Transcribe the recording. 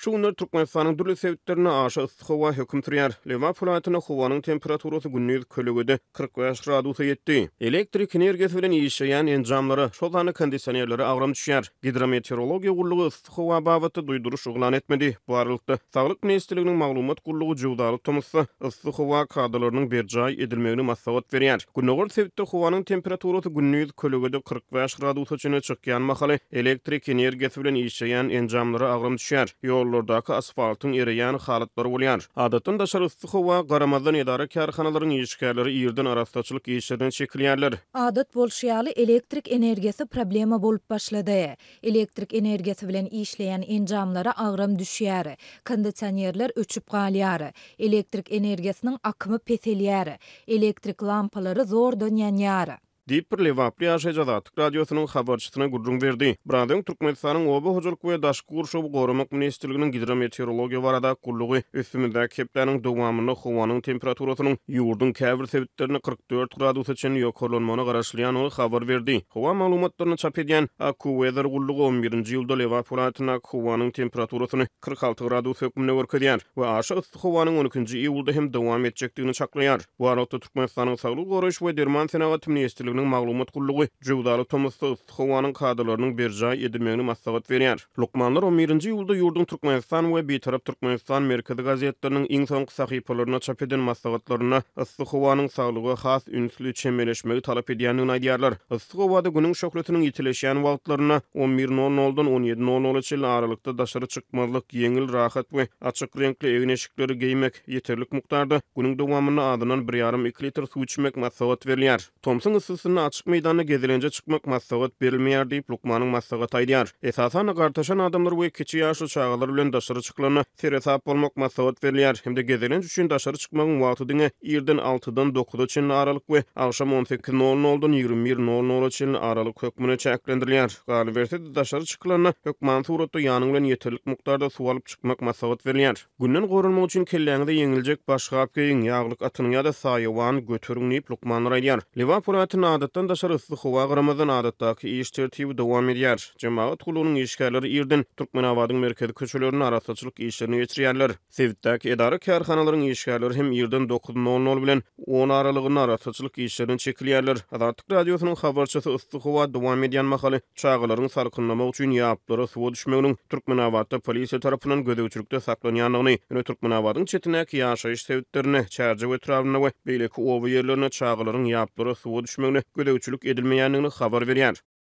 Şu günler Türkmenistanyň dürli sebitlerinde aşa yssy howa höküm sürýär. Lebap welaýatynda howanyň temperaturasy gündiz kölegede kyrk bäş gradusa ýetdi. Elektrik energiýasy bilen işleýän enjamlara, şol sanda kondisionerlere agram düşýär. Gidrometeorologiýa gullugy yssy howa babatda duýduryş yglan etmedi. Bu aralykda, Saglyk ministrliginiň maglumat gullugy jöwzaly tomusda yssy howa kadalarynyň berjaý edilmegini maslahat berýär. Gündogar sebitde howanyň temperaturasy gündiz kölegede kyrk bäş gradusa çenli çykýan mahaly, elektrik energiýasy bilen işleýän enjamlara agram düşýär, ýollardaky asfaltyň ereýän halatlary bolýar. Adatdan daşary yssy howa garamazdan edara-kärhanalaryň işgärleri irden arassaçylyk işlerine çekilýärler. Adat bolşy ýaly, elektrik energiýasy problema bolup başlady. Elektrik energiýasy bilen işleýän enjamlara agram düşýär, kondisionerler öçüp galýar, elektrik energiýasynyň akymy peselýär, elektrik lampalary zordan ýanýar. Diýip, bir lebaply ýaşaýjy Azatlyk Radiosynyň habarçysyna gürrüň berdi. Biraz öň Türkmenistanyň Oba hojalyk we daşky gurşawy goramak ministrliginiň Gidrometeorologiýa barada gullugy üstümizdäki hepdäniň dowamynda howanyň temperaturasynyň ýurduň käbir sebitlerinde dört gradusa çenli ýokarlanmagyna garaşylýandygy habar berdi. Howa maglumatlaryny çap edýän AccuWeather gullugy on birinji iýulda Lebap welaýatyndaky howanyň temperaturasyny kyrk alty gradus hökmünde görkezýär we aşa yssy howanyň on ikinji iýulda hem dowam etjekdigini çaklaýar. Bu aralykda, Türkmenistanyň Saglygy goraýyş we derman senagaty ministrliginiň maglumat gullugy jöwzaly tomusda yssy, howanyň kadalarynyň berjaý edilmegini maslahat berýär. Lukmanlar on birinji iýulda ýurduň Türkmenistan we Bitarap Türkmenistan merkezi gazetleriniň iň soňky sahypalarynda çap eden maslahatlarynda yssy howanyň saglyga has ünsli çemeleşmegi talap edýändigini aýdýarlar. Yssy howada Günüň şöhlesiniň ýitileşýän wagtlarynda, on bir nol noldan on ýedi nol nola çenli aralykda daşary çykmazlyk, ýeňil, rahat we açyk reňkli egin-eşikleri geýmek, ýeterlik mukdarda, günüň dowamynda azyndan bir ýarym-iki litr suw içmek maslahat berilýär. Tomsuň yssysynda açyk meýdanda gezelenje çykmak maslahat berilmeýär diýip, lukmanyň maslahaty aýdýar. Esasan-da, gartaşan adamlar we kiçi ýaşly çagalar bilen daşary çykylanda seresap bolmak maslahat berilýär hem-de gezelenç üçin daşary çykmagyň wagty diňe irden altydan dokuza çenli aralyk we agşam on sekiz nol noldan ýigrimi bir nol nola çenli aralyk hökmünde çäklendirilýär. Galyberse-de, daşary çykylanda hökman suratda ýanyň bilen ýeterlik mukdarda suw alyp çykmak maslahat berilýär. Günden goranmak üçin kelläňize ýeňiljek başgap geýiň, ýaglyk atynyň ýa-da saýawany göteriň diýip, lukmanlar aýdýar. Lebap welaýatynda adatdan daşary yssy howa garamazdan, adatdaky iş tertibi dowam edýär. Jemagat gullugynyň işgärleri irden Türkmenabadyň merkezi köçelerinde arassaçylyk işlerini geçirýärler. Sebitdäki edara-kärhanalaryň işgärleri hem irden dokuz nol nol bilen on aralygynda arassaçylyk işlerine çekilýärler. Azatlyk Radiosynyň habarçysy yssy howa dowam edýän mahaly, Çagalaryň salkynlamak üçin ýaplara suwa düşmeginiň Türkmenabatda polisiýa tarapyndan gözegçilikde saklanýandygyny, ýöne Türkmenabadyň çetindäki ýaşaýyş sebitlerinde, Çärjew etrabynda we beýleki oba ýerlerinde çagalaryň ýaplara suwa düşmegine gözegçilik edilmeýändigini habar berýär.